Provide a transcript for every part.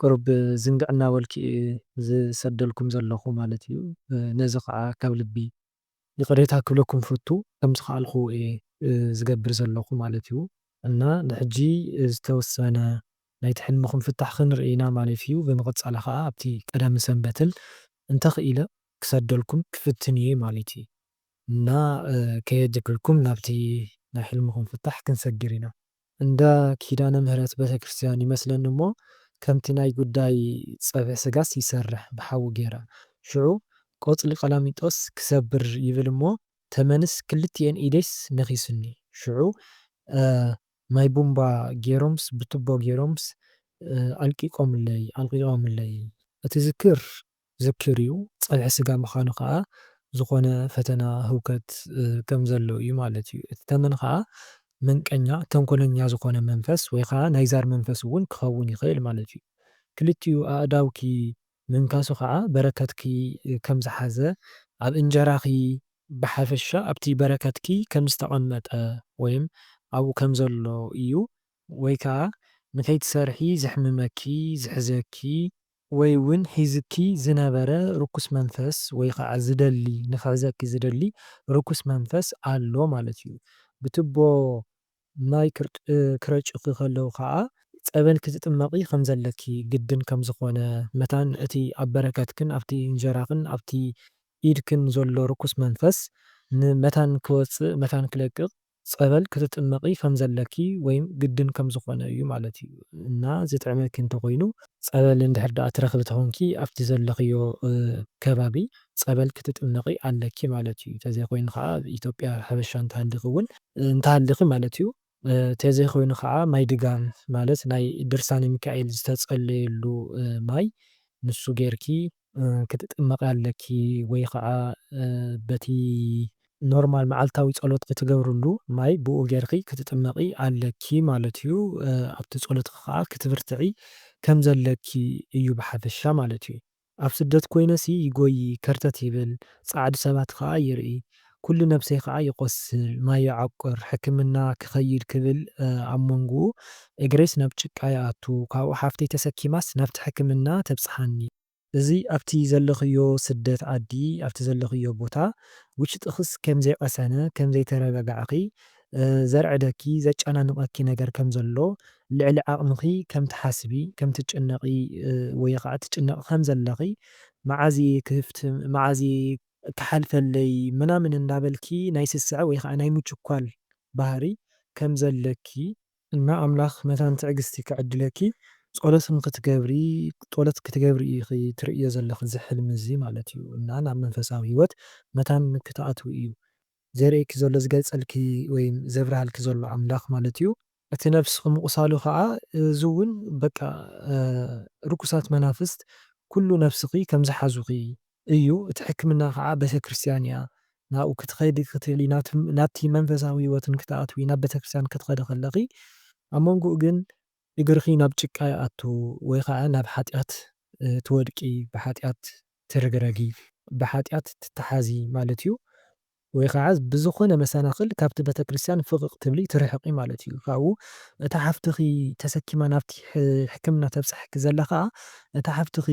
ቅሩብ ዝንግዕ እናበልኩ እየ ዝሰደልኩም ዘለኹ ማለት እዩ። ነዚ ኸኣ ካብ ልቢ ይቕሬታ ክብለኩም እፈቱ። ከም ዝኸኣልኩ እየ ዝገብር ዘለኹ ማለት እዩ። እና ንሕጂ ዝተወሰነ ናይቲ ሕልምኹም ፍታሕ ክንርኢ ኢና ማለት እዩ። ብምቕጻል ኸኣ ኣብቲ ቀዳምን ሰንበትን እንተኽኢለ ክሰደልኩም ክፍትን እየ ማለት እዩ። እና ከየጀገልኩም ናብቲ ናይ ሕልምኹም ፍታሕ ክንሰግር ኢና። እንዳ ኪዳነ ምህረት ቤተክርስትያን ይመስለኒ እሞ ከምቲ ናይ ጉዳይ ጸብሒ ስጋስ ይሰርሕ ብሓዊ ጌራ ሽዑ ቆጽሊ ቀላሚጦስ ክሰብር ይብል እሞ ተመንስ ክልቲኤን ኢደይስ ነኺሱኒ ሽዑ ማይ ቡምባ ጌሮምስ ብቱቦ ጌሮምስ ኣልቂቆምለይ ኣልቂቆምለይ እቲ ዝክር ዝክር እዩ። ጸብሒ ስጋ ምኻኑ ከኣ ዝኾነ ፈተና ህውከት ከም ዘሎ እዩ ማለት እዩ። እቲ ተመን ከኣ መንቀኛ፣ ተንኮለኛ ዝኾነ መንፈስ ወይ ከኣ ናይ ዛር መንፈስ እውን ክኸውን ይኽእል ማለት እዩ። ክልቲኡ ኣእዳውኪ ምንካሱ ከኣ በረከትኪ ከም ዝሓዘ፣ ኣብ እንጀራኺ፣ ብሓፈሻ ኣብቲ በረከትኪ ከም ዝተቐመጠ ወይም ኣብኡ ከም ዘሎ እዩ ወይ ከኣ ንከይትሰርሒ ዘሕምመኪ፣ ዝሕዘኪ፣ ወይ ውን ሒዙኪ ዝነበረ ርኩስ መንፈስ ወይ ኸዓ ዝደሊ ንክሕዘኪ ዝደሊ ርኩስ መንፈስ ኣሎ ማለት እዩ። ብትቦ ማይ ክረጩኺ ከለው ኸዓ ፀበል ክትጥመቒ ከም ዘለኪ ግድን ከም ዝኾነ መታን እቲ ኣብ በረከትክን ኣብቲ እንጀራኽን ኣብቲ ኢድክን ዘሎ ርኩስ መንፈስ መታን ክወፅእ መታን ክለቅቕ ጸበል ክትጥመቒ ከም ዘለኪ ወይም ግድን ከም ዝኾነ እዩ ማለት እዩ እና ዝጥዕመኪ እንተ ኾይኑ፣ ጸበል እንድሕር ደኣ ትረኽቢ ተኾንኪ ኣብቲ ዘለኽዮ ከባቢ ጸበል ክትጥመቒ ኣለኪ ማለት እዩ፣ ተዘይ ኾይኑ ኸኣ ኣብ ኢትዮጵያ ሕርሻ እንተሃሊኺ እውን፣ እንተሃሊኺ ማለት እዩ፣ ተዘይ ኾይኑ ኸኣ ማይ ድጋም ማለት ናይ ድርሳነ ሚካኤል ዝተጸለየሉ ማይ ንሱ ጌርኪ ክትጥመቒ ኣለኪ ወይ ኸዓ በቲ ኖርማል መዓልታዊ ጸሎት ብትገብርሉ ማይ ብኡ ጌርኺ ክትጥመቒ ኣለኪ ማለት እዩ። ኣብቲ ጸሎትኺ ኸዓ ክትብርትዒ ከም ዘለኪ እዩ ብሓፈሻ ማለት እዩ። ኣብ ስደት ኮይነሲ ይጎዪ ከርተት ይብል ጻዓዱ ሰባት ኸዓ ይርኢ። ኩሉ ነብሰይ ከኣ ይቆስል ማይ ይዓቁር ሕክምና ክከይድ ክብል ኣብ ሞንጉኡ እግረይስ ናብ ጭቃ ይኣቱ ካብኡ ሓፍተይ ተሰኪማስ ናብቲ ሕክምና ተብጽሓኒ። እዚ ኣብቲ ዘለክዮ ስደት ዓዲ ኣብቲ ዘለክዮ ቦታ ውሽጥክስ ከም ዘይቀሰነ ከም ዘይተረጋጋዕኪ ዘርዕደኪ ዘጫናንቀኪ ነገር ከም ዘሎ ልዕሊ ዓቅምኪ ከም ትሓስቢ ከም ትጭነቂ ወይከኣ ትጭነቂ ከም ዘለኪ መዓዝ እየ ክፍትም መዓዝ እየ እትሓልፈለይ ምናምን እንዳበልኪ ናይ ስስዐ ወይ ኸኣ ናይ ምችኳል ባህሪ ከም ዘለኪ፣ እና ኣምላኽ መታን ትዕግስቲ ክዕድለኪ ጾሎት ንኽትገብሪ ጦሎት ክትገብሪ ኢኺ ትርእዮ ዘለኺ እዚ ሕልሚ እዚ ማለት እዩ እና ናብ መንፈሳዊ ሂወት መታን ክትኣትዊ እዩ ዘርእየኪ ዘሎ ዝገልጸልኪ ወይ ዘብርሃልኪ ዘሎ ኣምላኽ ማለት እዩ። እቲ ነፍስኺ ምቁሳሉ ከኣ እዚ ውን በቃ ርኩሳት መናፍስት ኩሉ ነፍስኺ ከም ዝሓዙኺ እዩ እቲ ሕክምና ከኣ ቤተክርስትያን እያ ናብኡ ክትኸዲ ክትክእሊ ናብቲ መንፈሳዊ ህይወትን ክትኣትዊ ናብ ቤተክርስትያን ክትኸዲ ከለኺ ኣብ መንጎኡ ግን እግርኺ ናብ ጭቃ ይኣቱ ወይ ኸኣ ናብ ሓጢኣት ትወድቂ፣ ብሓጢኣት ትርግረጊ፣ ብሓጢኣት ትተሓዚ ማለት እዩ። ወይ ኸኣ ብዝኾነ መሰናኽል ካብቲ ቤተ ክርስቲያን ፍቕቕ ትብሊ፣ ትርሕቒ ማለት እዩ። ካብኡ እታ ሓፍትኺ ተሰኪማ ናብቲ ሕክምና ተብጽሓኪ ዘላ ኸኣ፣ እታ ሓፍትኺ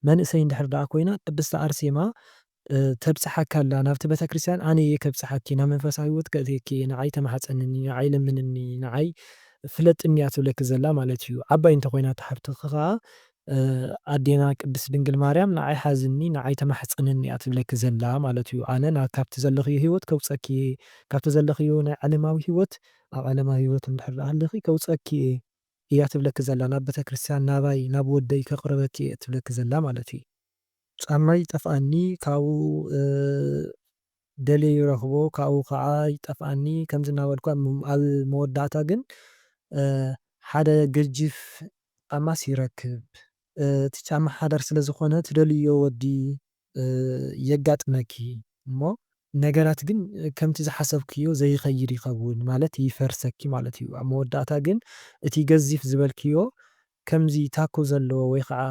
መንእሰይ እንድሕር ደኣ ኮይና ቅድስቲ ኣርሴማ ተብጽሓካ ኣላ ናብቲ ቤተክርስትያን ኣነ እየ ከብጽሓኪ ናብ መንፈሳዊ ሂወት ከእትየኪ ንዓይ ተማሕጸንኒ ንዓይ ለምንኒ ንዓይ ፍለጥኒ እያ ትብለኪ ዘላ ማለት እዩ ዓባይ እንተኮይና እታ ሓፍትኪ ከኣ ኣዴና ቅድስት ድንግል ማርያም ንዓይ ሓዝኒ ንዓይ ተማሕጸንኒ እያ ትብለኪ ዘላ ማለት እዩ ኣነ ናብ ካብቲ ዘለክዮ ሂወት ከውጸኪ እየ ካብቲ ዘለክዮ ናይ ዓለማዊ ሂወት ኣብ ዓለማዊ ሂወት እንድሕር ደኣ ሃሊኪ ከውጸኪ እየ እያ ትብለኪ ዘላ ናብ ቤተክርስትያን ናባይ ናብ ወደይ ከቅርበኪ እየ እትብለኪ ዘላ ማለት እዩ። ጫማይ ይጠፍኣኒ ካብኡ ደልየ ይረኽቦ ካብኡ ካኣ ይጠፍኣኒ ከምዚ እናበልኩ ኣብ መወዳእታ ግን ሓደ ገጂፍ ጫማስ ይረክብ እቲ ጫማ ሓዳር ስለ ዝኾነ ትደልይዮ ወዲ የጋጥመኪ እሞ ነገራት ግን ከምቲ ዝሓሰብክዮ ዘይኸይድ ይኸውን ማለት ይፈርሰኪ ማለት እዩ ኣብ መወዳእታ ግን እቲ ገዚፍ ዝበልክዮ ከምዚ ታኮ ዘለዎ ወይ ኸኣ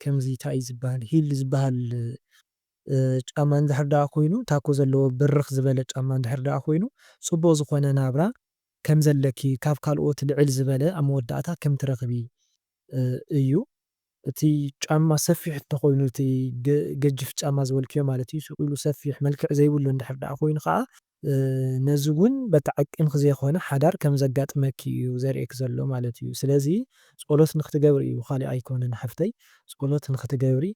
ከምዚ ታይ እዩ ዝብሃል ሂል ዝብሃል ጫማ እንድሕር ደኣ ኮይኑ ታኮ ዘለዎ ብርኽ ዝበለ ጫማ እንድሕር ደኣ ኮይኑ ጽቡቕ ዝኾነ ናብራ ከም ዘለኪ ካብ ካልኦት ልዕል ዝበለ ኣብ መወዳእታ ከም ትረኽቢ እዩ። እቲ ጫማ ሰፊሕ እንተኾይኑ እቲ ገጅፍ ጫማ ዝበልክዮ ማለት እዩ ሱቕ ኢሉ ሰፊሕ መልክዕ ዘይብሉ እንድሕር ደኣ ኮይኑ ኸኣ ነዚ ውን በቲ ዓቅምኪ ዘይኮነ ሓዳር ከም ዘጋጥመኪ እዩ ዘርእየኪ ዘሎ ማለት እዩ ስለዚ ፆሎት ንክትገብሪ እዩ ካሊእ ኣይኮነን ሓፍተይ ፆሎት ንክትገብሪ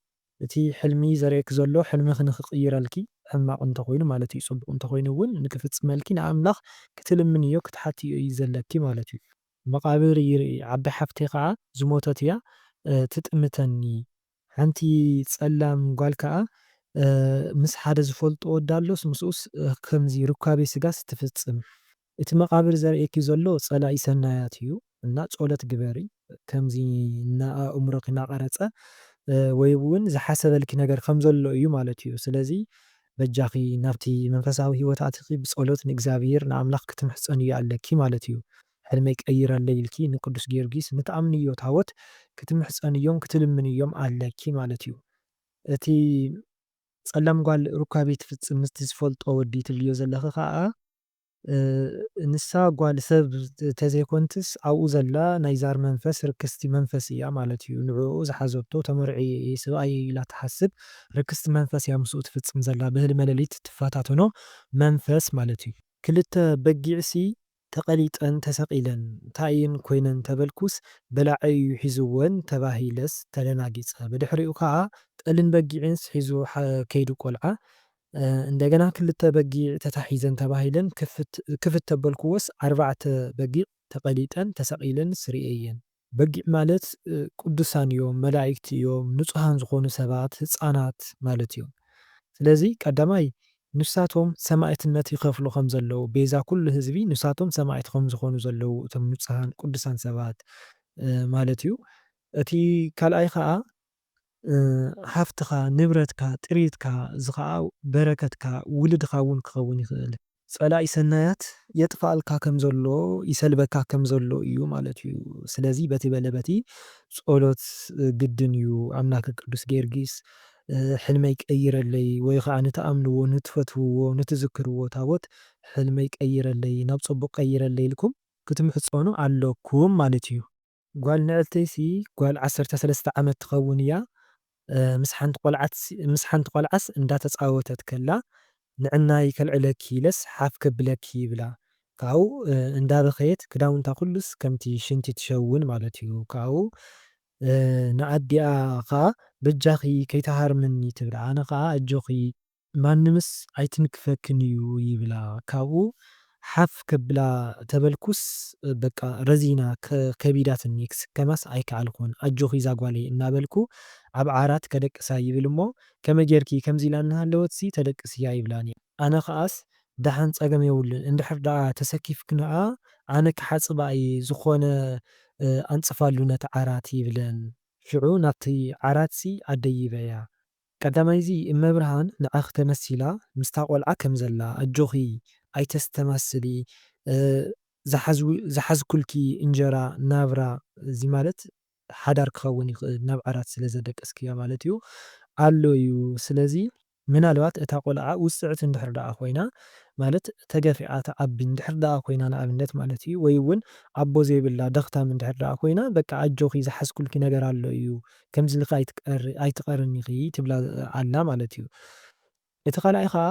እቲ ሕልሚ ዘርእየኪ ዘሎ ሕልምኪ ንክቅይረልኪ ሕማቅ እንተኮይኑ ማለት እዩ ፅቡቅ እንተኮይኑ ውን ንክፍፅመልኪ ንኣምላክ ክትልምንዮ ክትሓትዮ እዩ ዘለኪ ማለት እዩ። መቃብር ይርኢ ዓዲ ሓፍተይ ከዓ ዝሞተት እያ ትጥምተኒ ሓንቲ ጸላም ጓል ከኣ ምስ ሓደ ዝፈልጦ ወዳ ኣሎስ ምስኡስ ከምዚ ሩካቤ ስጋስ ትፍጽም። እቲ መቃብር ዘርእየኪ ዘሎ ጸላኢ ሰናያት እዩ እና ጾሎት ግበሪ ከምዚ እና ኣእምሮኪ ናቀረጸ ወይ ውን ዝሓሰበልኪ ነገር ከም ዘሎ እዩ ማለት እዩ ስለዚ በጃኪ ናብቲ መንፈሳዊ ሂወት ኣቲኪ ብጾሎት ንእግዚኣብሄር ንኣምላክ ክትምሕጸንዮ ኣለኪ ማለት እዩ ሕልመይ ቀይረለይ ኢልኪ ንቅዱስ ጊዮርጊስ ንትኣምንዮ ታወት ክትምሕጸንዮም ክትልምንዮም ኣለኪ ማለት እዩ እቲ ጸላም ጓል ሩካቤ ትፍጽም ምስቲ ዝፈልጦ ወዲ ትብልዮ ዘለኺ ከኣ ንሳ ጓል ሰብ ተዘይኮንትስ ኣብኡ ዘላ ናይ ዛር መንፈስ ርክስቲ መንፈስ እያ ማለት እዩ ንዕኡ ዝሓዘቶ ተመርዕየ ሰብኣየይ ኢላ ትሓስብ ርክስቲ መንፈስ እያ ምስኡ ትፍጽም ዘላ ብህልመ ለሊት ትፈታተኖ መንፈስ ማለት እዩ ክልተ በጊዕሲ ተቐሊጠን ተሰቒለን እንታይ እየን ኮይነን ተበልኩስ በላዒ እዩ ሒዝወን ተባሂለስ ተደናጊፀ። ብድሕሪኡ ከዓ ጠልን በጊዕንስ ሒዙ ከይዱ ቆልዓ። እንደገና ክልተ በጊዕ ተታሒዘን ተባሂለን ክፍት ተበልኩዎስ ኣርባዕተ በጊዕ ተቐሊጠን ተሰቒለንስ ሪኤየን። በጊዕ ማለት ቅዱሳን እዮም፣ መላኢክቲ እዮም፣ ንጹሃን ዝኾኑ ሰባት፣ ህጻናት ማለት እዮም። ስለዚ ቀዳማይ ንሳቶም ሰማኢትነት ይኸፍሉ ከም ዘለዉ፣ ቤዛ ኩሉ ህዝቢ ንሳቶም ሰማኢት ከም ዝኾኑ ዘለዉ እቶም ንጹሃን ቅዱሳን ሰባት ማለት እዩ። እቲ ካልኣይ ከኣ ሃፍትኻ፣ ንብረትካ፣ ጥሪትካ፣ እዚ ኸኣ በረከትካ፣ ውልድኻ እውን ክኸውን ይኽእል። ጸላኢ ሰናያት የጥፍኣልካ ከም ዘሎ፣ ይሰልበካ ከም ዘሎ እዩ ማለት እዩ። ስለዚ በቲ በለ በቲ ጸሎት ግድን እዩ። ኣምላከ ቅዱስ ጊዮርጊስ ሕልመይ ቀይረለይ ወይ ኸኣ ንትኣምንዎ፣ ንትፈትውዎ፣ ንትዝክርዎ ታቦት ሕልመይ ቀይረለይ፣ ናብ ጸቡቕ ቀይረለይ ኢልኩም ክትምሕጸኑ ኣሎኩም ማለት እዩ። ጓል ንዕልተይሲ ጓል ዓሰርተ ሰለስተ ዓመት ትኸውን እያ። ምስ ሓንቲ ቆልዓትሲ ምስ ሓንቲ ቆልዓስ እንዳተጻወተት ከላ ንዕናይ ከልዕለኪ ኢለስ ሓፍ ከብለኪ ይብላ ካብኡ እንዳበኸየት ክዳውንታ ኩሉስ ከምቲ ሽንቲ ትሸውን ማለት እዩ ካብኡ ንኣዲኣ ከኣ በጃኺ ከይትሃርምኒ ትብላ ኣነ ከኣ ኣጆኺ ማንምስ ኣይትንክፈክን እዩ ይብላ ካብኡ ሓፍ ከብላ ተበልኩስ በቃ ረዚና ከቢዳትኒ ክስከማስ ኣይከኣልኩን ኣጆኺ ዛጓለይ እናበልኩ ኣብ ዓራት ከደቅሳ ይብል እሞ ከመይ ጌርኪ ከምዚ ኢላ እናሃለወትሲ ተደቅስያ ይብላኒ ኣነ ከኣስ ደሓን ጸገም የብሉን እንድሕር ደኣ ተሰኪፍክንኣ ኣነ ክሓጽባ እየ ዝኾነ ኣንጽፋሉ ነቲ ዓራት ይብለን ሽዑ ናብቲ ዓራትሲ ኣደይበያ ቀዳማይ እዚ እመብርሃን ንዓኺ ተመሲላ ምስታ ቆልዓ ከም ዘላ ኣጆኺ ኣይተስተማስሊ ዝሓዝኩልኪ እንጀራ ናብራ እዚ ማለት ሓዳር ክኸውን ይኽእል ናብ ዓራት ስለ ዘደቀስክያ ማለት እዩ ኣሎ እዩ ስለዚ ምናልባት እታ ቆልዓ ውጽዕቲ እንድሕር ደኣ ኮይና ማለት ተገፊዓ ትዓቢ እንድሕር ደኣ ኮይና ንኣብነት ማለት እዩ ወይ እውን ኣቦ ዘይብላ ደኽታም እንድሕር ደኣ ኮይና በቃ ኣጆኺ ዝሓዝኩልኪ ነገር ኣሎ እዩ ከምዚ ኢልኪ ኣይትቐርን ኢኺ ትብላ ኣላ ማለት እዩ። እቲ ካልኣይ ከኣ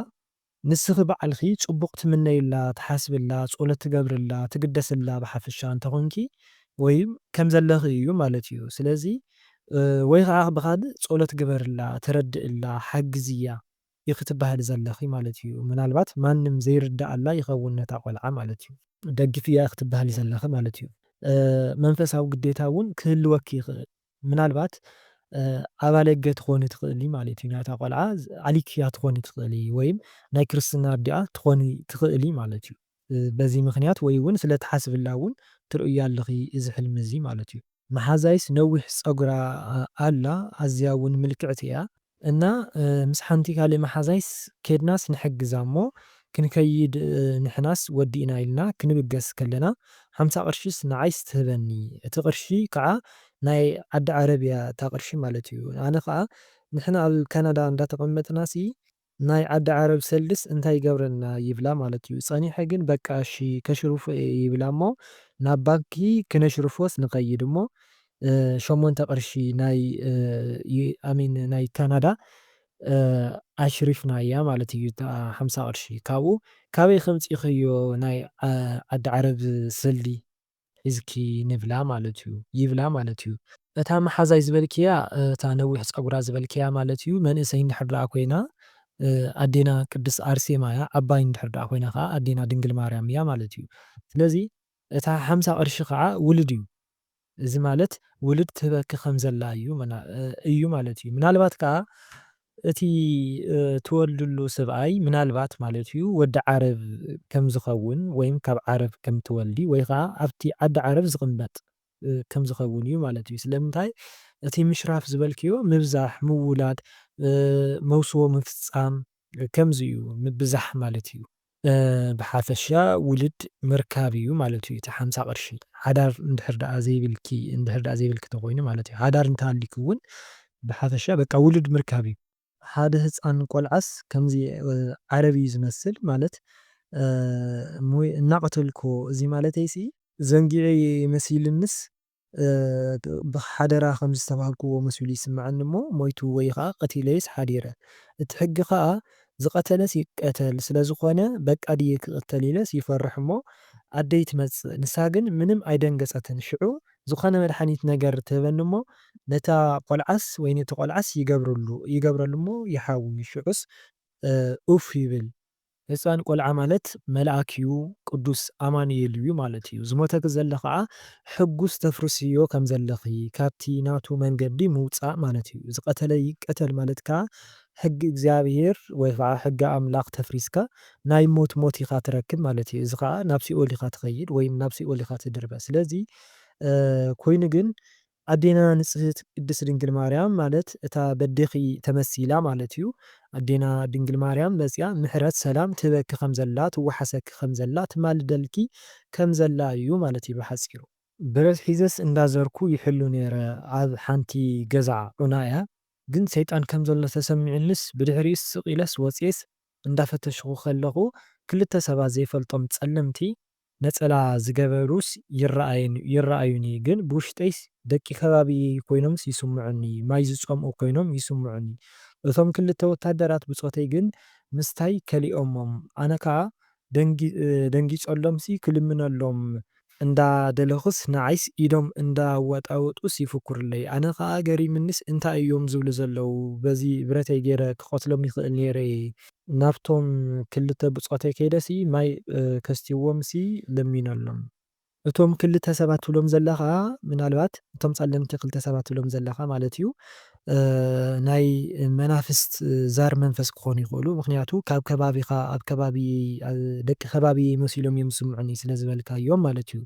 ንስኺ ባዕልኺ ጽቡቕ ትምነይላ፣ ትሓስብላ፣ ጸሎት ትገብርላ፣ ትግደስላ ብሓፈሻ እንተ ኾንኪ ወይ ከም ዘለኺ እዩ ማለት እዩ። ስለዚ ወይ ከኣ ብኻልእ ጸሎት ግበርላ፣ ተረድእላ፣ ሓግዝያ። ኢኺ ትበሃሊ ዘለኺ ማለት እዩ ምናልባት ማንም ዘይርደኣላ ይኸውን ነታ ቆልዓ ማለት እዩ። ደግፍያ ኢኺ ትበሃሊ ዘለኺ ማለት እዩ። መንፈሳዊ ግዴታ እውን ክህልወኪ ይኽእል ምናልባት ኣባለገ ትኾኒ ትኽእሊ ማለት እዩ ናይታ ቆልዓ ኣሊክያ ትኾኒ ትኽእሊ ወይም ናይ ክርስትና ኣዲኣ ትኾኒ ትኽእሊ ማለት እዩ። በዚ ምኽንያት ወይ እውን ስለ ትሓስብላ እውን ትርእያ ኣለኺ እዚ ሕልሚ እዚ ማለት እዩ። መሓዛይስ ነዊሕ ፀጉራ ኣላ ኣዝያ እውን ምልክዕቲ እያ። እና ምስ ሓንቲ ካልእ መሓዛይስ ኬድናስ ንሕግዛ እሞ ክንከይድ ንሕናስ ወዲእና ኢልና ክንብገስ ከለና ሓምሳ ቅርሺስ ንዓይስ ትህበኒ እቲ ቅርሺ ከዓ ናይ ዓዲ ዓረብ እያ እታ ቅርሺ ማለት እዩ ኣነ ከዓ ንሕና ኣብ ካናዳ እንዳተቀመጥናሲ ናይ ዓዲ ዓረብ ሰልድስ እንታይ ይገብረልና ይብላ ማለት እዩ ጸኒሐ ግን በቃ እሺ ከሽርፎ እየ ይብላ እሞ ናብ ባንኪ ክነሽርፎስ ንከይድ እሞ ሸሞንተ ቅርሺ ናይ ኣሚን ናይ ካናዳ ኣሽሪፍናያ ማለት እዩ ሓምሳ ቅርሺ ካብኡ ካበይ ከምጺክዮ ናይ ዓዲ ዓረብ ሰልዲ ሒዝኪ ንብላ ማለት እዩ ይብላ ማለት እዩ። እታ መሓዛይ ዝበልክያ እታ ነዊሕ ጸጉራ ዝበልክያ ማለት እዩ መንእሰይ እንድሕር ደኣ ኮይና ኣዴና ቅድስት ኣርሴማ እያ ዓባይ እንድሕር ደኣ ኮይና ከኣ ኣዴና ድንግል ማርያም እያ ማለት እዩ ስለዚ እታ ሓምሳ ቅርሺ ከኣ ውሉድ እዩ እዚ ማለት ውሉድ ትህበኪ ከም ዘላ እዩ እዩ ማለት እዩ ምናልባት ከኣ እቲ ትወልድሉ ሰብኣይ ምናልባት ማለት እዩ ወዲ ዓረብ ከም ዝኸውን ወይም ካብ ዓረብ ከም ትወልዲ ወይ ኸኣ ኣብቲ ዓዲ ዓረብ ዝቕመጥ ከም ዝኸውን እዩ ማለት እዩ። ስለምንታይ እቲ ምሽራፍ ዝበልክዮ ምብዛሕ፣ ምውላድ፣ መውስቦ ምፍጻም ከምዚ እዩ ምብዛሕ ማለት እዩ። ብሓፈሻ ውልድ ምርካብ እዩ ማለት እዩ እቲ ሓምሳ ቅርሺ። ሓዳር እንድሕር ደኣ ዘይብልኪ እንድሕር ደኣ ዘይብልኪ ተኾይኑ ማለት እዩ። ሓዳር እንተሃልዩኪ እውን ብሓፈሻ በቃ ውልድ ምርካብ እዩ። ሓደ ህጻን ቆልዓስ ከምዚ ዓረብ እዩ ዝመስል ማለት እሞይ እናቐተልክዎ እዚ ማለተይሲ ዘንጊዐ እየ መሲልንስ ብሓደራ ከምዚ ዝተባህልኩዎ መሲሉ ይስመዐኒ እሞ ሞይቱ ወይ ኸኣ ቀቲለዩስ ሓዲረ እቲ ሕጊ ኸኣ ዝቐተለስ ይቀተል ስለዝኾነ በቃ ድየ ክቕተል ኢለስ ይፈርሕ እሞ ኣደይ ትመጽእ ንሳ ግን ምንም ኣይደንገጸትን ሽዑ ዝኾነ መድሓኒት ነገር ትህበኒ እሞ ነታ ቆልዓስ ወይ ነቲ ቆልዓስ ይገብረሉ እሞ ይሓዊ ሽዑስ ኡፍ ይብል ህጻን ቆልዓ ማለት መልኣክ እዩ ቅዱስ ኣማኑኤል እዩ ማለት እዩ ዝሞተኪ ዘሎ ከኣ ሕጉስ ተፍርስዮ ከም ዘለኺ ካብቲ ናቱ መንገዲ ምውጻእ ማለት እዩ ዝቀተለ ይቀተል ማለት ከኣ ሕጊ እግዚኣብሄር ወይ ከኣ ሕጊ ኣምላኽ ተፍሪስካ ናይ ሞት ሞት ኢኻ ትረክብ ማለት እዩ እዚ ከኣ ናብ ሲኦል ኢኻ ትኸይድ ወይም ናብ ሲኦል ኢኻ ትድርበ ስለዚ ኮይኑ ግን ኣዴና ንጽህት ቅድስት ድንግል ማርያም ማለት እታ በዴኪ ተመሲላ ማለት እዩ ኣዴና ድንግል ማርያም መጺኣ ምሕረት ሰላም ትህበኪ ከም ዘላ ትዋሓሰኪ ከም ዘላ ትማልደልኪ ከም ዘላ እዩ ማለት እዩ ብሓጺሩ። ብረት ሒዘስ እንዳ ዘርኩ ይሕሉ ኔረ ኣብ ሓንቲ ገዛ ዑና እያ ግን ሰይጣን ከም ዘሎ ተሰሚዑንስ ብድሕሪኡስ ስቅ ኢለስ ወጽኤስ እንዳ ፈተሽኩ ከለኩ ክልተ ሰባት ዘይፈልጦም ጸለምቲ ነጸላ ዝገበሩስ ይረኣየን ይረኣዩኒ ግን ብውሽጠይስ ደቂ ከባቢየይ ኮይኖምስ ይስምዑኒ ማይ ዝጸምኡ ኮይኖም ይስምዑኒ እቶም ክልተ ወታደራት ብጾተይ ግን ምስታይ ከሊኦሞም ኣነ ከኣ ደንጊጸሎምሲ ክልምነሎም እንዳ ደለኹስ ንዓይስ ኢዶም እንዳ ኣዋጣወጡስ ይፍኩርለይ ኣነ ከኣ ገሪምኒስ እንታይ እዮም ዝብሉ ዘለዉ በዚ ብረተይ ጌረ ክቀትሎም ይኽእል ኔረ ናብቶም ክልተ ብጾተይ ከይደሲ ማይ ከስትይዎምሲ ለሚነሎም። እቶም ክልተ ሰባት ትብሎም ዘለኻ ምናልባት እቶም ጸለምቲ ክልተ ሰባት ትብሎም ዘለኻ ማለት እዩ ናይ መናፍስት ዛር መንፈስ ክኾኑ ይኽእሉ ምኽንያቱ ካብ ከባቢኻ ኣብ ከባቢየይ ደቂ ከባቢየይ መሲሎም እዮም ዝስምዑኒ ስለ ዝበልካዮም ማለት እዩ።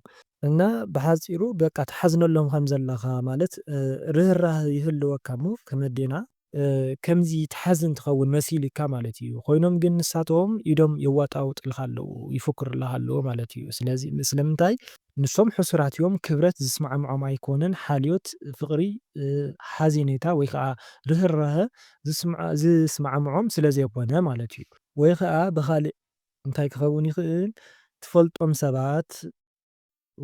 እና ብሓጺሩ በቃ ትሓዝነሎም ከም ዘለኻ ማለት ርህራህ ይህልወካ እሞ ከም ኣዴና ከምዚ ትሓዝን ትኸውን መሲልካ ማለት ኢዩ ኮይኖም ግን ንሳቶም ኢዶም የዋጣውጥልካ ኣለዉ ይፉክርልኻ ኣለዉ ማለት ኢዩ ስለዚ ስለምንታይ ንሶም ሑሱራት ኢዮም ክብረት ዝስማዕምዖም ኣይኮነን ሓልዮት ፍቅሪ ሓዜኔታ ወይ ከኣ ርህራሀ ዝስማዕምዖም ስለ ዘይኮነ ማለት ኢዩ። ወይ ከኣ ብኻልእ እንታይ ክኸውን ይኽእል ትፈልጦም ሰባት።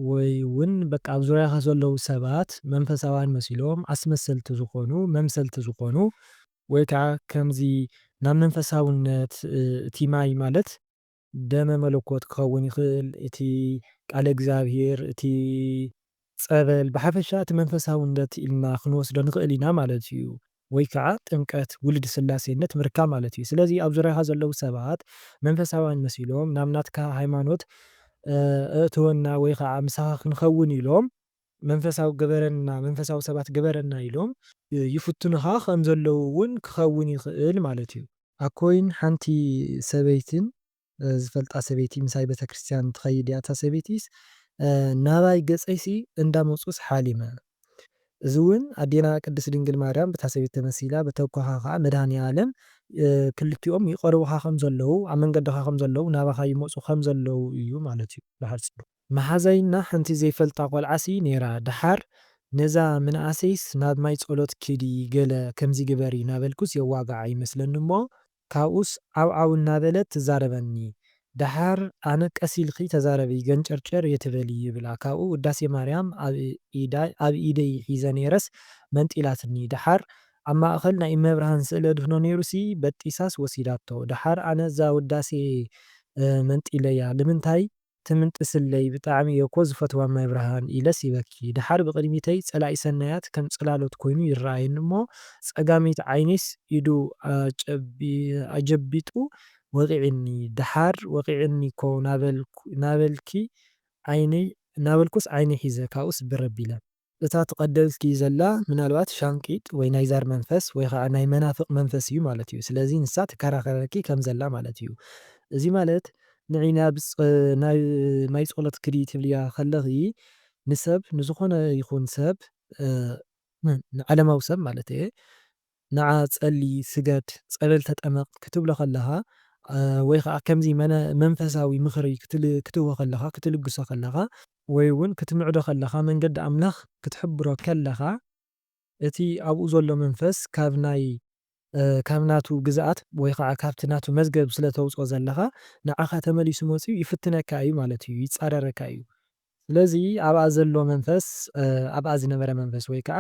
ወይ'ውን በቃ ኣብ ዙርያኻ ዘለዉ ሰባት መንፈሳውያን መሲሎም ኣስመሰልቲ ዝኾኑ፣ መምሰልቲ ዝኾኑ፣ ወይ ከኣ ከምዚ ናብ መንፈሳውነት እቲ ማይ ማለት ደመ መለኮት ክኸውን ይኽእል፣ እቲ ቃለ እግዚኣብሔር፣ እቲ ጸበል፣ ብሓፈሻ እቲ መንፈሳውነት ኢልና ክንወስዶ ንኽእል ኢና ማለት እዩ። ወይ ከኣ ጥምቀት፣ ውሉድ ስላሴነት ምርካብ ማለት እዩ። ስለዚ ኣብ ዙርያኻ ዘለዉ ሰባት መንፈሳውያን መሲሎም ናብ ናትካ ሃይማኖት ኣእትወና ወይ ከኣ ምሳኻ ክንኸውን ኢሎም መንፈሳዊ ግበረና፣ መንፈሳዊ ሰባት ግበረና ኢሎም ይፍትኑኻ ከም ዘለዉ እውን ክኸውን ይኽእል ማለት እዩ። ኣኮይን ሓንቲ ሰበይትን ዝፈልጣ ሰበይቲ ምሳይ ቤተክርስትያን ትኸይድ እያ እታ ሰበይቲስ ናባይ ገፀይሲ እንዳመፁስ ሓሊመ እዚ ውን ኣዴና ቅድስት ድንግል ማርያም ብታ ሰበይቲ ተመሲላ ብተኳኻ ኸዓ መድኃኒኣለም ክልቲኦም ይቐርቡኻ ከም ዘለዉ ኣብ መንገድኻ ከም ዘለዉ ናባኻ ይመፁ ከም ዘለዉ እዩ ማለት እዩ ብሓፂሩ። መሓዛይ እና ሓንቲ ዘይፈልጣ ቆልዓ ሲ ነይራ ደሓር ነዛ ምንኣሰይስ ናብ ማይ ፀሎት ኪዲ ገለ ከምዚ ግበሪ ናበልኩስ የዋግዓ ይመስለኒ እሞ ካብኡስ ዓው ዓው እናበለት ትዛረበኒ። ደሓር ኣነ ቀስ ኢልኪ ተዛረቢ ገንጨርጨር እይትበሊ ይብላ ካብኡ ውዳሴ ማርያም ኣብ ኢደይ ሒዘ ነይረስ መንጢላትኒ ደሓር ኣብ ማእኸል ናይ እመብርሃን ስእሊ ኣድህኖ ነይሩሲ በጢሳስ ወሲዳቶ ደሓር ኣነ እዛ ውዳሴ መንጢለያ ልምንታይ ትምንጥስለይ ብጣዕሚ እየ እኮ ዝፈትዋ እማይ ብርሃን ኢለስ ይበኪ ደሓር ብቅድሚተይ ፀላኢ ሰናያት ከም ፅላሎት ኮይኑ ይረኣየኒ እሞ ፀጋመይቲ ዓይነይስ ኢዱ ኣጀቢጡ ወቂዕኒ ደሓር ወቂዕኒ እኮ ናበልኪ ዓይነይ ናበልኩስ ዓይነይ ሒዘ ካብኡስ ብር ኣቢለ እታ ትቐደልኪ ዘላ ምናልባት ሻንቂጥ ወይ ናይ ዛር መንፈስ ወይ ኸኣ ናይ መናፍቕ መንፈስ እዩ ማለት እዩ። ስለዚ ንሳ ትከራኸረኪ ከም ዘላ ማለት እዩ። እዚ ማለት ንዒ ናብ ናብ ማይ ጸሎት ክዲ ትብልያ ከለኺ ንሰብ ንዝኾነ ይኹን ሰብ ንዓለማዊ ሰብ ማለት እየ ንዓ ጸሊ፣ ስገድ፣ ጸበል ተጠመቕ ክትብሎ ከለኻ ወይ ኸኣ ከምዚ መንፈሳዊ ምኽሪ ክትህቦ ከለኻ፣ ክትልግሶ ከለኻ፣ ወይ ውን ክትምዕዶ ከለኻ መንገዲ ኣምላኽ ክትሕብሮ ከለኻ እቲ ኣብኡ ዘሎ መንፈስ ካብ ናይ ካብ ናቱ ግዝኣት ወይ ኸኣ ካብቲ ናቱ መዝገብ ስለ ተውጽኦ ዘለኻ ንዓኻ ተመሊሱ መጺኡ ይፍትነካ እዩ ማለት እዩ ይጻረረካ እዩ ስለዚ ኣብኣ ዘሎ መንፈስ ኣብኣ ዝነበረ መንፈስ ወይ ከኣ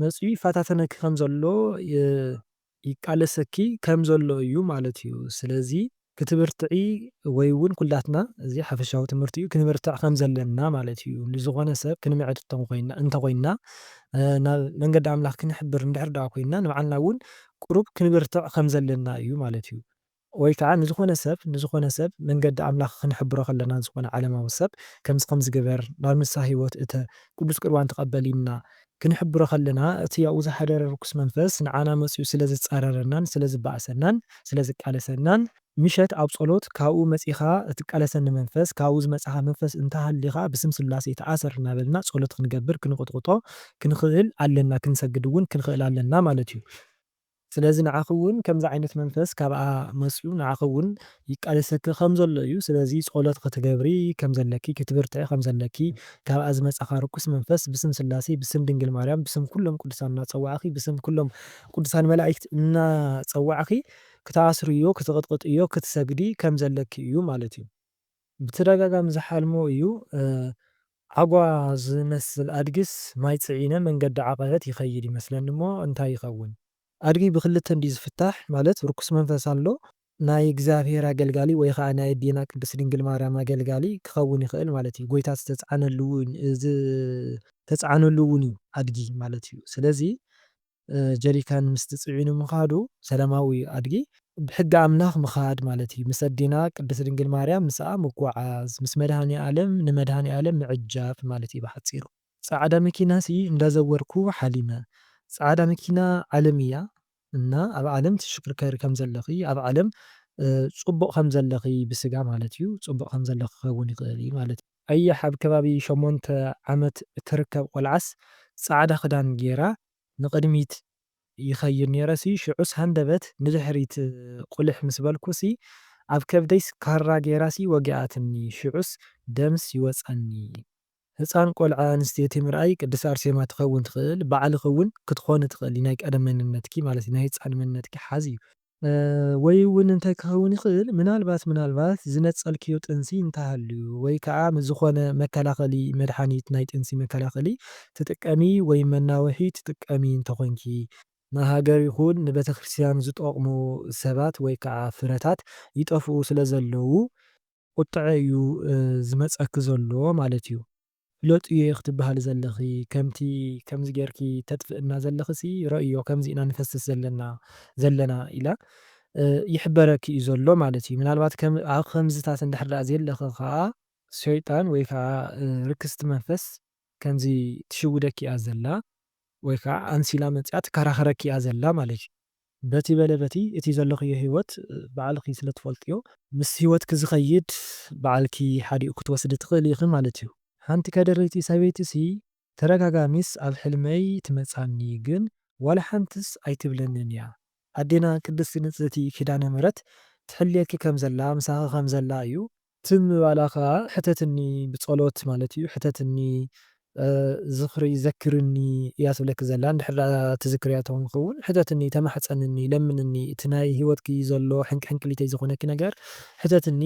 መጺኡ ይፈታተነኪ ከም ዘሎ ይቃለሰኪ ከም ዘሎ እዩ ማለት እዩ። ስለዚ። ክትብርትዒ ወይ ውን ኩላትና እዚ ሓፈሻዊ ትምህርቲ እዩ ክንብርትዕ ከም ዘለና ማለት እዩ። ንዝኾነ ሰብ ክንምዕድ እንተ ኾይንና ናብ መንገዲ ኣምላኽ ክንሕብር እንድሕር ደኣ ኮይንና ንባዕልና ውን ቁሩብ ክንብርትዕ ከም ዘለና እዩ ማለት እዩ። ወይ ከኣ ንዝኾነ ሰብ ንዝኾነ ሰብ መንገዲ ኣምላኽ ክንሕብሮ ከለና ንዝኾነ ዓለማዊ ሰብ ከምዚ ከምዚ ግበር ናብ ንስሃ ሕይወት እተ ቅዱስ ቁርባን ተቀበል ኢልና ክንሕብሮ ከለና እቲ ኣብኡ ዝሓደረ ርኩስ መንፈስ ንዓና መጺኡ ስለ ዝጻረረናን ስለ ዝባእሰናን ስለ ዝቃለሰናን ምሸት ኣብ ጸሎት ካብኡ መጺኻ እትቃለሰኒ መንፈስ ካብኡ ዝመጻኻ መንፈስ እንተ ሃሊኻ ብስም ስላሴ ተኣሰር እናበልና ጸሎት ክንገብር ክንቁጥቁጦ ክንኽእል ኣለና ክንሰግድ እውን ክንኽእል ኣለና ማለት እዩ። ስለዚ ንዓኺ እውን ከምዚ ዓይነት መንፈስ ካብኣ መጺኡ ንዓኺ እውን ይቃለሰኪ ከም ዘሎ እዩ። ስለዚ ጸሎት ክትገብሪ ከም ዘለኪ፣ ክትብርትዒ ከም ዘለኪ፣ ካብኣ ዝመጻኻ ርኩስ መንፈስ ብስም ስላሴ፣ ብስም ድንግል ማርያም፣ ብስም ኩሎም ቅዱሳን እናጸዋዕኺ፣ ብስም ኩሎም ቅዱሳን መላኢክት እናጸዋዕኺ ክትኣስርዮ፣ ክትቕጥቕጥዮ፣ ክትሰግዲ ከም ዘለኪ እዩ ማለት እዩ። ብተደጋጋሚ ዝሓልሞ እዩ። ዓጓ ዝመስል ኣድጊስ ማይ ጽዒነ መንገዲ ዓቐበት ይኸይድ ይመስለኒ እሞ እንታይ ይኸውን? ኣድጊ ብክልተ እንድዩ ዝፍታሕ ማለት ርኩስ መንፈስ ኣሎ ናይ እግዚኣብሔር ኣገልጋሊ ወይ ከኣ ናይ ኣዴና ቅድስት ድንግል ማርያም ኣገልጋሊ ክኸውን ይኽእል ማለት እዩ ጎይታ ዝተጻዕነሉ ዝተጻዕነሉ ውን እዩ ኣድጊ ማለት እዩ ስለዚ ጀሪካን ምስቲ ጽዒኑ ምኻዱ ሰላማዊ ኣድጊ ብሕጊ ኣምላኽ ምኻድ ማለት እዩ። ምስ ኣዴና ቅድስት ድንግል ማርያም ምስኣ ምጉዓዝ ምስ መድኃኔኣለም ንመድኃኔኣለም ምዕጃብ ማለት እዩ ብሓጺሩ። ጻዕዳ መኪናሲ እንዳዘወርኩ ሓሊመ። ጻዕዳ መኪና ዓለም እያ እና ኣብ ዓለም ትሽክርከሪ ከም ዘለኺ ኣብ ዓለም ጽቡቕ ከም ዘለኺ ብስጋ ማለት እዩ ጽቡቕ ከም ዘለኺ ክኸውን ይኽእል እዩ ማለት እዩ። ኣየሕ ኣብ ከባቢ ሸሞንተ ዓመት እትርከብ ቆልዓስ ጻዕዳ ክዳን ጌራ ንቅድሚት ይከይድ ኔረ ሲ ሽዑስ ሃንደበት ንድሕሪት ቁሊሕ ምስ በልኩ ሲ ኣብ ከብደይስ ካራ ጌራ ሲ ወጊኣትኒ ሽዑስ ደምስ ይወጸኒ። ህጻን ቆልዓ ኣንስተይቲ ምርኣይ ቅድስት ኣርሴማ ትከውን ትክእል ባዕልኪ ውን ክትኮኒ ትክእሊ ናይ ቀደም መንነትኪ ማለት ናይ ህጻን መንነትኪ ሓዚ እዩ። ወይ'ውን እንታይ ክኸውን ይኽእል፣ ምናልባት ምናልባት ዝነጸልክዮ ጥንሲ እንተሃልዩ፣ ወይ ከኣ ምስ ዝኾነ መከላኸሊ መድሓኒት፣ ናይ ጥንሲ መከላኸሊ፣ ትጥቀሚ ወይ መናውሒ ትጥቀሚ እንተኾንኪ፣ ንሃገር ይኹን ንቤተክርስትያን ዝጠቕሙ ሰባት ወይ ከኣ ፍረታት ይጠፍኡ ስለዘለዉ፣ ቁጥዐ እዩ ዝመጸኪ ዘሎ ማለት'ዩ። ፍለጥዮ'የ ክትብሃሊ ዘለኺ ከምቲ ከምዚ ጌርኪ ተጥፍእና ዘለኺ'ሲ ረእዮ ከምዚ ኢና ንፈስስ ዘለና ዘለና ኢላ ይሕበረኪ'ዩ ዘሎ ማለት'ዩ ምናልባት ከም ኣብ ከምዝታት እንድሕር ደኣ ዘየለኺ ከኣ ሸይጣን ወይ ከኣ ርክስቲ መንፈስ ከምዚ ትሽውደኪ'ያ ዘላ ወይ ከኣ ኣምሲላ መጺኣ ትከራኸረኪ'ያ ዘላ ማለት'ዩ። በቲ በለ በቲ እቲ ዘለኽዮ ህይወት ባዕልኺ ስለ ትፈልጥዮ፣ ምስ ህይወትኪ ዝኸይድ ባዕልኪ ሓዲኡ ክትወስዲ ትኽእሊ ኢኺ ማለት እዩ። ሓንቲ ከደረይቲ ሰበይቲሲ ተደጋጋሚስ ኣብ ሕልመይ ትመጽኣኒ ግን ዋላ ሓንትስ ኣይትብለንን እያ። ኣዴና ቅድስቲ ንጽህቲ ኪዳነ ምሕረት ትሕልየኪ ከም ዘላ ምሳኺ ከም ዘላ እዩ ትም ምባላ ከኣ ሕተትኒ ብጸሎት ማለት እዩ ሕተትኒ ዝኽሪ ዘክርኒ እያ ትብለኪ ዘላ እንድሕር ደኣ ትዝክርያ ትኾንኪ ውን ሕተትኒ ተማሕጸንኒ ለምንኒ እቲ ናይ ሂወትኪ ዘሎ ሕንቅሕንቅሊተይ ዝኾነኪ ነገር ሕተትኒ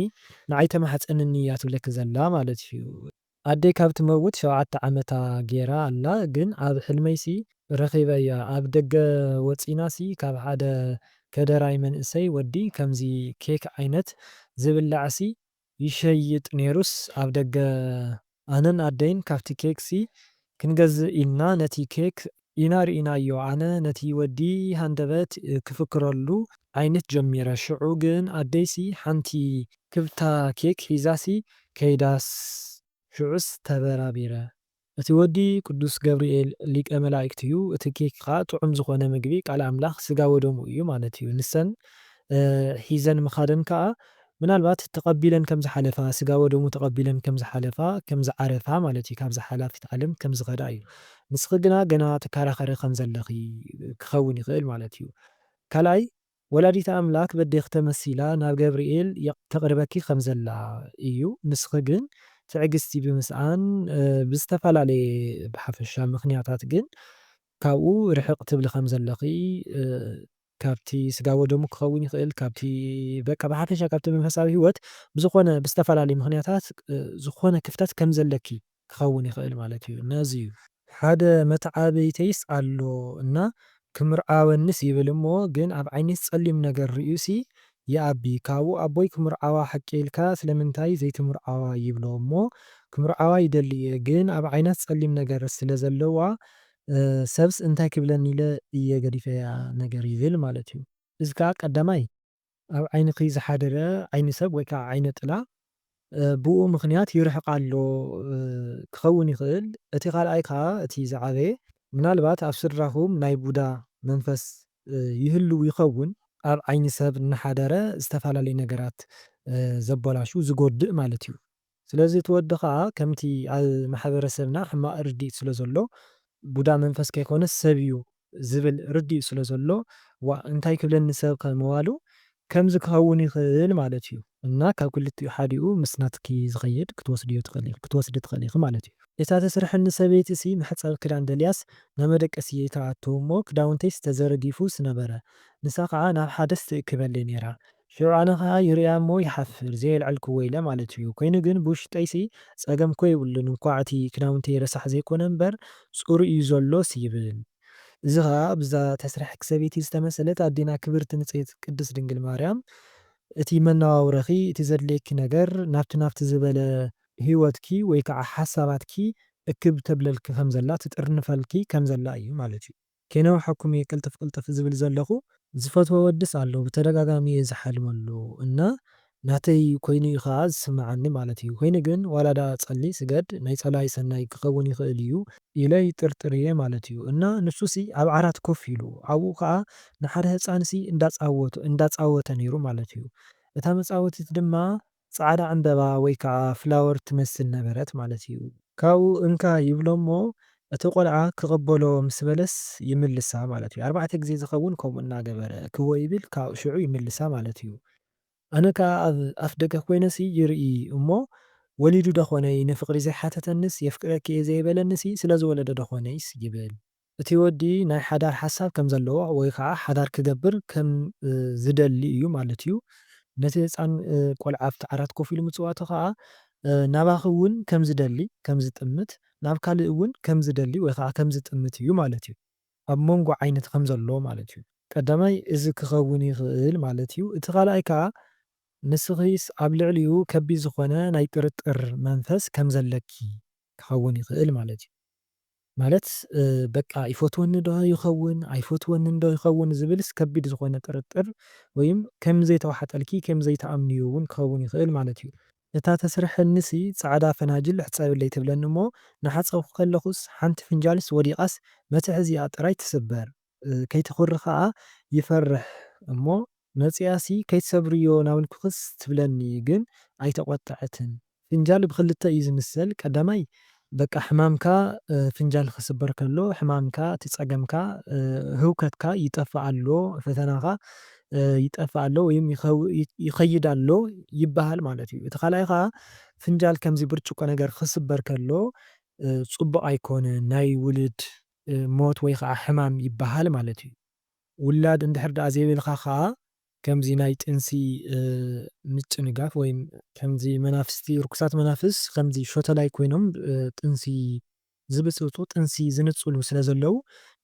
ንዓይ ተማሕጸንኒ እያ ትብለኪ ዘላ ማለት እዩ። ኣደይ ካብ ትመውት ሸውዓተ ዓመታ ጌራ ኣላ ግን ኣብ ሕልመይ ሲ ረኺበያ ኣብ ደገ ወጺና ሲ ካብ ሓደ ከደራይ መንእሰይ ወዲ ከምዚ ኬክ ዓይነት ዝብላዕ ሲ ይሸይጥ ኔሩስ ኣብ ደገ ኣነን ኣደይን ካብቲ ኬክ ሲ ክንገዝእ ኢልና ነቲ ኬክ ኢና ርኢናዮ ኣነ ነቲ ወዲ ሃንደበት ክፍክረሉ ኣይንት ጀሚረ ሽዑ ግን ኣደይሲ ሓንቲ ክብታ ኬክ ሒዛሲ ከይዳስ ሽዑስ ተበራቢረ እቲ ወዲ ቅዱስ ገብርኤል ሊቀ መላእክት እዩ እቲ ኬክ ከኣ ጥዑም ዝኾነ ምግቢ ቃል ኣምላኽ ስጋ ወደሙ እዩ ማለት እዩ ንሰን ሒዘን ምኻደን ከኣ ምናልባት ተቐቢለን ከም ዝሓለፋ፣ ስጋ ወደሙ ተቐቢለን ከም ዝሓለፋ፣ ከም ዝዓረፋ ማለት እዩ፣ ካብዛ ሓላፊት ዓለም ከም ዝኸዳ እዩ። ንስኺ ግና ገና ትከራኸሪ ከም ዘለኺ ክኸውን ይኽእል ማለት እዩ። ካልኣይ፣ ወላዲተ ኣምላክ በዴኺ ተመሲላ ናብ ገብርኤል ተቕርበኪ ከም ዘላ እዩ፣ ንስኺ ግን ትዕግስቲ ብምስኣን ብዝተፈላለየ ብሓፈሻ ምኽንያታት ግን ካብኡ ርሕቕ ትብሊ ከም ዘለኺ ካብቲ ስጋ ወደሙ ክኸውን ይኽእል ካብቲ በቃ ብሓፈሻ ካብቲ መንፈሳዊ ህይወት ብዝኾነ ብዝተፈላለዩ ምኽንያታት ዝኾነ ክፍተት ከም ዘለኪ ክኸውን ይኽእል ማለት እዩ እና እዚ እዩ። ሓደ መተዓብይተይስ ኣሎ እና ክምርዓወኒስ ይብል እሞ ግን ኣብ ዓይነይስ ጸሊም ነገር ርእዩሲ ይኣቢ ካብኡ ኣቦይ ክምርዓዋ ሓቂ ኢልካ ስለምንታይ ዘይትምርዓዋ ይብሎ እሞ ክምርዓዋ ይደሊ እየ ግን ኣብ ዓይናስ ጸሊም ነገር ስለ ዘለዋ ሰብስ እንታይ ክብለኒ ኢለ እየ ገዲፈያ ነገር ይብል ማለት እዩ። እዚ ከኣ ቀዳማይ ኣብ ዓይንኺ ዝሓደረ ዓይኒ ሰብ ወይ ከኣ ዓይነ ጥላ ብኡ ምኽንያት ይርሕቕ ኣሎ ክኸውን ይኽእል። እቲ ካልኣይ ከኣ እቲ ዝዓበየ ምናልባት ኣብ ስድራኹም ናይ ቡዳ መንፈስ ይህልው ይኸውን። ኣብ ዓይኒ ሰብ እናሓደረ ዝተፈላለዩ ነገራት ዘበላሹ፣ ዝጎድእ ማለት እዩ። ስለዚ እቲ ወዲ ከኣ ከምቲ ኣብ ማሕበረሰብና ሕማቕ ርድኢት ስለ ዘሎ ቡዳ መንፈስ ከይኮነስ ሰብ እዩ ዝብል ርድኢት ስለ ዘሎ ዋእ እንታይ ክብለኒ ሰብከ ምባሉ ከምዚ ክኸውን ይኽእል ማለት እዩ። እና ካብ ክልቲኡ ሓዲኡ ምስ ናትኪ ዝኸይድ ክትወስድዮ ትኽእሊ ኢኺ ክትወስዲ ትኽእሊ ኢኺ ማለት እዩ። እታ ተስርሐኒ ሰበይቲሲ መሕጸቢ ክዳን ደልያስ ናብ መደቀሲ እየ ትኣቱ እሞ ክዳውንተይስ ተዘርጊፉ ስነበረ ንሳ ከኣ ናብ ሓደስ ትእክበለይ ኔራ ሽዑ ኣነ ከኣ ይርእያ እሞ ይሓፍር ዘየልዐልክዎ ኢለ ማለት እዩ ኮይኑ ግን ብውሽጠይሲ ጸገም እኮ የብሉን እንኳዕ እቲ ክዳውንተይ ረሳሕ ዘይኮነ እምበር ጽሩይ እዩ ዘሎስ ይብል። እዚ ከኣ ኣብዛ ተስረሕኪ ሰበይቲ ዝተመሰለት ኣዴና ክብርቲ ንጽህቲ ቅድስት ድንግል ማርያም እቲ መነባብሮኺ እቲ ዘድልየኪ ነገር ናብቲ ናብቲ ዝበለ ህይወትኪ ወይ ከኣ ሓሳባትኪ እክብ ተብለልኪ ከም ዘላ ትጥርንፈልኪ ከም ዘላ እዩ ማለት እዩ። ከይነውሓኩም እየ ቅልጥፍ ቅልጥፍ ዝብል ዘለኹ። ዝፈትዎ ወድስ ኣሎ ብተደጋጋሚ እየ ዝሓልመሉ እና ናተይ ኮይኑ እዩ ከኣ ዝስመዓኒ ማለት እዩ ኮይኑ ግን ዋላ ደኣ ጸሊ ስገድ ናይ ጸላኢ ሰናይ ክኸውን ይኽእል እዩ ኢለ ይጥርጥር እየ ማለት እዩ እና ንሱ ሲ ኣብ ዓራት ኮፍ ኢሉ ኣብኡ ከኣ ንሓደ ህጻን ሲ እንዳጻወቶ እንዳጻወተ ኔሩ ማለት እዩ እታ መጻወቲት ድማ ጻዕዳ ዕምበባ ወይ ከኣ ፍላወር ትመስል ነበረት ማለት እዩ። ካብኡ እንካ ይብሎ'ሞ እቲ ቆልዓ ክቕበሎ ምስ በለስ ይምልሳ ማለት እዩ። ኣርባዕተ ግዜ ዝኸውን ከምኡ እናገበረ ክወ ይብል ካብ ሽዑ ይምልሳ ማለት እዩ። ኣነ ከኣ ኣብ ኣፍደገ ኮይነሲ ይርኢ እሞ ወሊዱ ደኾነይ ንፍቕሪ ዘይሓተተኒስ የፍቅረኪ'የ ዘይበለኒሲ ስለዝወለደ ደኾነይስ ይብል። እቲ ወዲ ናይ ሓዳር ሓሳብ ከም ዘለዎ ወይ ከኣ ሓዳር ክገብር ከም ዝደሊ እዩ ማለት እዩ። ነቲ ህጻን ቆልዓ ኣብቲ ዓራት ኮፍ ኢሉ ምጽዋቱ ከኣ ናባኺ እውን ከም ዝደሊ፣ ከም ዝጥምት፣ ናብ ካልእ እውን ከም ዝደሊ ወይ ከኣ ከም ዝጥምት እዩ ማለት እዩ። ኣብ መንጎ ዓይነት ከም ዘሎ ማለት እዩ። ቀዳማይ እዚ ክኸውን ይኽእል ማለት እዩ። እቲ ካልኣይ ከኣ ንስኺስ ኣብ ልዕሊኡ ከቢድ ዝኾነ ናይ ጥርጥር መንፈስ ከም ዘለኪ ክኸውን ይኽእል ማለት እዩ። ማለት በቃ ይፈትወኒ ዶ ይኸውን ኣይፈትወንን ዶ ይኸውን ዝብልስ ከቢድ ዝኾነ ጥርጥር ወይም ከም ዘይተዋሓጠልኪ ከም ዘይትኣምንዮ ውን ክኸውን ይኽእል ማለት ዩ። እታ ተስርሐኒሲ ጻዕዳ ፈናጅል ሕጸብለይ ትብለኒ እሞ ናሓጸብኩ ከለኹስ ሓንቲ ፍንጃልስ ወዲቓስ መትሐዚኣ ጥራይ ትስበር። ከይትኹሪ ከኣ ይፈርሕ እሞ መጺኣሲ ከይትሰብርዮ ናውንኩክስ ትብለኒ ግን ኣይተቆጠዐትን ፍንጃል ብኽልተ እዩ ዝምሰል ቀዳማይ በቃ ሕማምካ ፍንጃል ክስበር ከሎ ሕማምካ እቲ ጸገምካ ህውከትካ ይጠፍእ ኣሎ ፈተናኻ ይጠፍእ ኣሎ ወይም ይኸይድ ኣሎ ይበሃል ማለት እዩ እቲ ካልኣይ ከኣ ፍንጃል ከምዚ ብርጭቆ ነገር ክስበር ከሎ ጽቡቕ ኣይኮነን ናይ ውሉድ ሞት ወይ ኸኣ ሕማም ይበሃል ማለት እዩ። ውላድ እንድሕር ደኣ ዘይብልካ ከኣ ከምዚ ናይ ጥንሲ ምጭንጋፍ ወይ ከምዚ መናፍስቲ ርኩሳት መናፍስ ከምዚ ሾተላይ ኮይኖም ጥንሲ ዝብጽብጹ ጥንሲ ዝንጽሉ ስለ ዘለዉ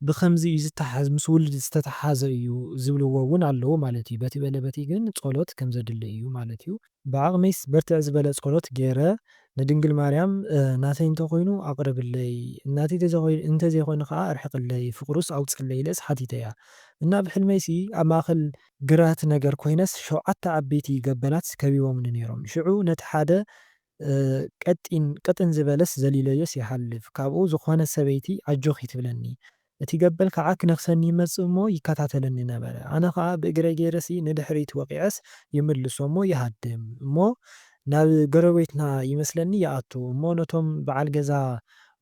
ብኸምዚ እዩ ዝተሓዝ ምስ ውልድ ዝተተሓሓዘ እዩ ዝብልዎ እውን ኣለዉ ማለት እዩ። በቲ በለ በቲ ግን ጸሎት ከም ዘድሊ እዩ ማለት እዩ። ብዓቅመይስ ብርትዕ ዝበለ ጸሎት ጌረ ንድንግል ማርያም ናተይ እንተ ኮይኑ ኣቅርብለይ ናተይ እንተ ዘይኮይኑ ከኣ ኣርሕቅለይ ፍቅሩስ ኣውጽለይ ኢለስ ሓቲተያ እና ኣብ ሕልመይሲ ኣብ ማእከል ግራት ነገር ኮይነስ ሸውዓተ ዓበይቲ ገበላት ከቢቦምኒ ኔሮም ሽዑ ነቲ ሓደ ቀጢን ቅጥን ዝበለስ ዘሊለዮስ ይሓልፍ ካብኡ ዝኮነት ሰበይቲ ኣጆኪ ትብለኒ እቲ ገበል ከኣ ክነኽሰኒ ይመጽእ እሞ ይከታተለኒ ነበረ። ኣነ ከኣ ብእግረይ ገይረሲ ንድሕሪት ወቒዐስ ይምልሶ እሞ ይሃድም እሞ ናብ ጎረቤትና ይመስለኒ ይኣቱ እሞ ነቶም በዓል ገዛ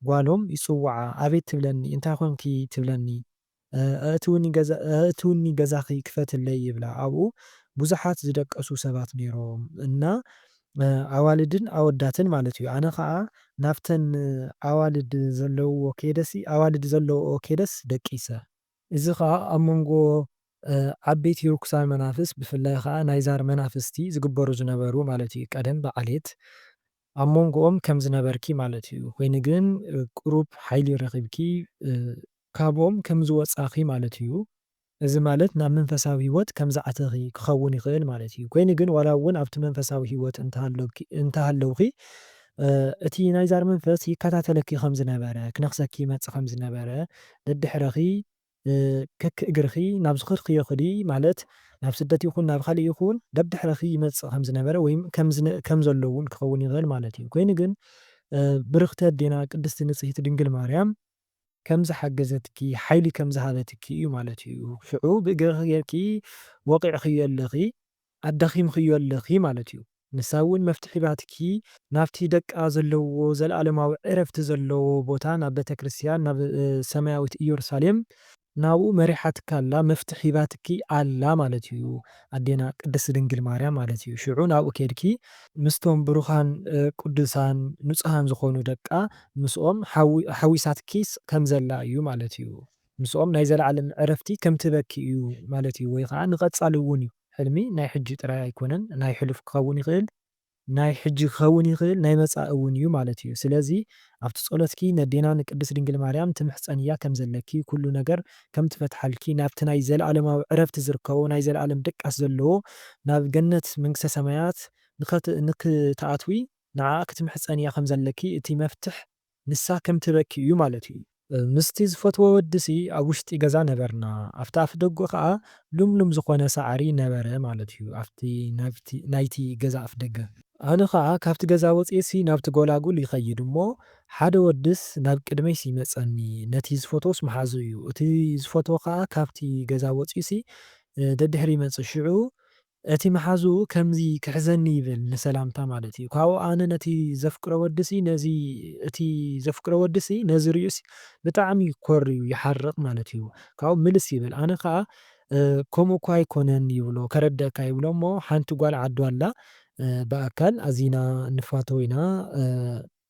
ጓሎም ይጽውዓ ኣቤት ትብለኒ እንታይ ኮንኪ ትብለኒ ኣእትውኒ ገዛኺ ክፈትለይ ይብላ ኣብኡ ብዙሓት ዝደቀሱ ሰባት ነይሮም እና ኣዋልድን ኣወዳትን ማለት እዩ ኣነ ከኣ ናብተን ኣዋልድ ዘለውዎ ከይደሲ ኣዋልድ ዘለውኦ ከይደስ ደቂሰ። እዚ ከኣ ኣብ መንጎ ዓበይቲ ርኩሳን መናፍስት ብፍላይ ከኣ ናይ ዛር መናፍስቲ ዝግበሩ ዝነበሩ ማለት እዩ ቀደም ብዓሌት ኣብ መንጎኦም ከም ዝነበርኪ ማለት እዩ ኮይኑ ግን ቅሩብ ሓይሊ ረኺብኪ ካብኦም ከም ዝወጻኺ ማለት እዩ እዚ ማለት ናብ መንፈሳዊ ህይወት ከም ዝኣተኺ ክኸውን ይኽእል ማለት እዩ። ኮይኑ ግን ዋላ እውን ኣብቲ መንፈሳዊ ህይወት እንተሃለውኪ እንተሃለውኺ እቲ ናይ ዛር መንፈስ ይከታተለኪ ከም ዝነበረ፣ ክነኽሰኪ ይመጽእ ከም ዝነበረ፣ ደድሕረኺ ከክ እግርኺ ናብ ዝኸድክዮ ክዲ ማለት ናብ ስደት ይኹን ናብ ካልእ ይኹን ደድሕረኺ ይመጽእ ከም ዝነበረ ወይ ከም ከም ዘሎ እውን ክኸውን ይኽእል ማለት እዩ። ኮይኑ ግን ብርኽቲ ኣዴና ቅድስቲ ንጽህቲ ድንግል ማርያም ከም ዝሓገዘትኪ ሓይሊ ከም ዝሃበትኪ እዩ ማለት እዩ ሽዑ ብእግርኺ ጌርኪ ወቒዕኽዮ ኣለኺ ኣዳኺምኽዮ ኣለኺ ማለት እዩ ንሳ እውን መፍትሒ ሂባትኪ ናብቲ ደቃ ዘለውዎ ዘለኣለማዊ ዕረፍቲ ዘለዎ ቦታ ናብ ቤተክርስትያን ናብ ሰማያዊት እየሩሳሌም ናብኡ መሪሓትኪ ኣላ መፍትሕ ሂባትኪ ኣላ ማለት እዩ ኣዴና ቅድስት ድንግል ማርያም ማለት እዩ ሽዑ ናብኡ ኬድኪ ምስቶም ብሩኻን ቅዱሳን ንጹሃን ዝኾኑ ደቃ ምስኦም ሓዊሳትኪ ከም ዘላ እዩ ማለት እዩ ምስኦም ናይ ዘለዓለም ዕረፍቲ ከም ትህበኪ እዩ ማለት እዩ ወይ ኸኣ ንቀጻሊ እውን እዩ ሕልሚ ናይ ሕጂ ጥራይ ኣይኮነን ናይ ሕሉፍ ክኸውን ይኽእል ናይ ሕጂ ክኸውን ይኽእል ናይ መጻኢ እውን እዩ ማለት እዩ ስለዚ ኣብቲ ጸሎትኪ ነዴና ንቅድስት ድንግል ማርያም ትምሕጸንያ ከም ዘለኪ ኩሉ ነገር ከም ትፈትሓልኪ ናብቲ ናይ ዘለኣለማዊ ዕረፍቲ ዝርከቦ ናይ ዘለኣለም ድቃስ ዘለዎ ናብ ገነት መንግስተ ሰማያት ንክትኣትዊ ንዓኣ ክትምሕጸንያ ከም ዘለኪ እቲ መፍትሕ ንሳ ከም ትበኪ እዩ ማለቱ እዩ። ምስቲ ዝፈትዎ ወዲሲ ኣብ ውሽጢ ገዛ ነበርና። ኣብቲ ኣፍደግኡ ከኣ ልምሉም ዝኾነ ሳዕሪ ነበረ ማለት እዩ፣ ኣብቲ ናይቲ ገዛ ኣፍደገ። ኣነ ከኣ ካብቲ ገዛ ወጺኤሲ ናብቲ ጎላጉል ይኸይድ እሞ፣ ሓደ ወዲስ ናብ ቅድመይሲ ይመጸኒ። ነቲ ዝፈትዎስ መሓዝኡ እዩ። እቲ ዝፈትዎ ከኣ ካብቲ ገዛ ወጺኡሲ ደድሕሪ ይመጽእ። ሽዑ እቲ መሓዝኡ ከምዚ ክሕዘኒ ይብል ንሰላምታ ማለት እዩ ካብኡ ኣነ ነቲ ዘፍቅሮ ወዲሲ ነዚ እቲ ዘፍቅሮ ወዲሲ ነዚ ሪኡሲ ብጣዕሚ ኮርዩ ይሓርቅ ማለት እዩ ካብኡ ምልስ ይብል ኣነ ከኣ ከምኡ እኮ ኣይኮነን ይብሎ ከረደኣካ ይብሎ እሞ ሓንቲ ጓል ዓዱ ኣላ ብኣካል ኣዚና ንፋተው ኢና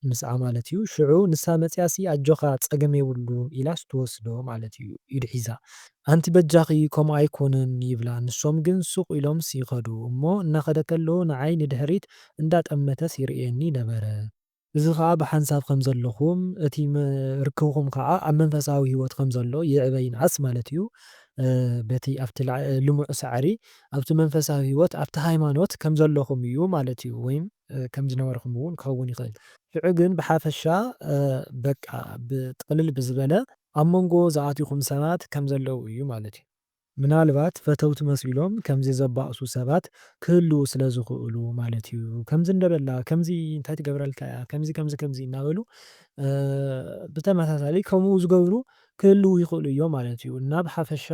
ምስኣ ማለት እዩ ሽዑ ንሳ መጽያሲ ኣጆኻ ጸገም የብሉን ኢላስ ትወስዶ ማለት እዩ ኢድ ሒዛ ኣንቲ በጃኺ ከምኡ ኣይኮነን ይብላ ንሶም ግን ሱቕ ኢሎምስ ይኸዱ እሞ እናኸደ ከሎ ንዓይ ንድሕሪት እንዳጠመተስ ይርእየኒ ነበረ እዚ ኸኣ ብሓንሳብ ከም ዘለኹም እቲ ርክብኹም ኸኣ ኣብ መንፈሳዊ ሂወት ከም ዘሎ ይዕበ ይንኣስ ማለት እዩ በቲ ኣብቲ ልሙዕ ሳዕሪ ኣብቲ መንፈሳዊ ሂወት ኣብቲ ሃይማኖት ከም ዘለኹም እዩ ማለት እዩ ወይም ከም ዝነበርኩም እውን ክኸውን ይኽእል። ሽዑ ግን ብሓፈሻ በቃ ብጥቕልል ብዝበለ ኣብ መንጎ ዝኣትኹም ሰባት ከም ዘለዉ እዩ ማለት እዩ። ምናልባት ፈተውቲ መሲሎም ከምዚ ዘባእሱ ሰባት ክህልዉ ስለ ዝኽእሉ ማለት እዩ። ከምዚ እንደበላ ከምዚ እንታይ ትገብረልካ እያ ከምዚ ከምዚ ከምዚ እናበሉ ብተመሳሳሊ ከምኡ ዝገብሩ ክህልዉ ይኽእሉ እዮም ማለት እዩ። እና ብሓፈሻ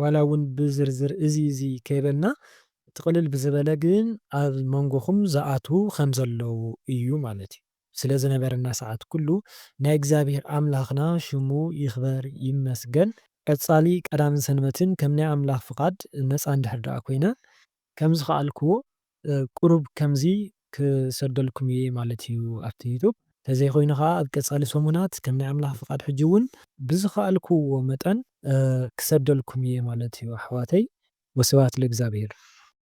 ዋላ እውን ብዝርዝር እዚ እዚ ከይበልና እቲ ቅልል ብዝበለ ግን ኣብ መንጎኹም ዝኣትዉ ኸም ዘለዉ እዩ ማለት እዩ። ስለ ዝነበረና ሰዓት ኵሉ ናይ እግዚኣብሄር ኣምላኽና ሽሙ ይኽበር ይመስገን። ቀጻሊ ቀዳምን ሰንበትን ከም ናይ ኣምላኽ ፍቓድ ነጻ እንድሕር ደኣ ኰይነ፣ ከም ዝኸኣልክዎ ቍሩብ ከምዚ ክሰደልኩም እየ ማለት እዩ ኣብቲ ዩቱብ። ተዘይኮይኑ ከኣ ኣብ ቀጻሊ ሰሙናት ከም ናይ ኣምላኽ ፍቃድ ሕጂ ውን ብዝኸኣልክዎ መጠን ክሰደልኩም እየ ማለት እዩ ኣሕዋተይ። ወስብሃት ለእግዚኣብሄር።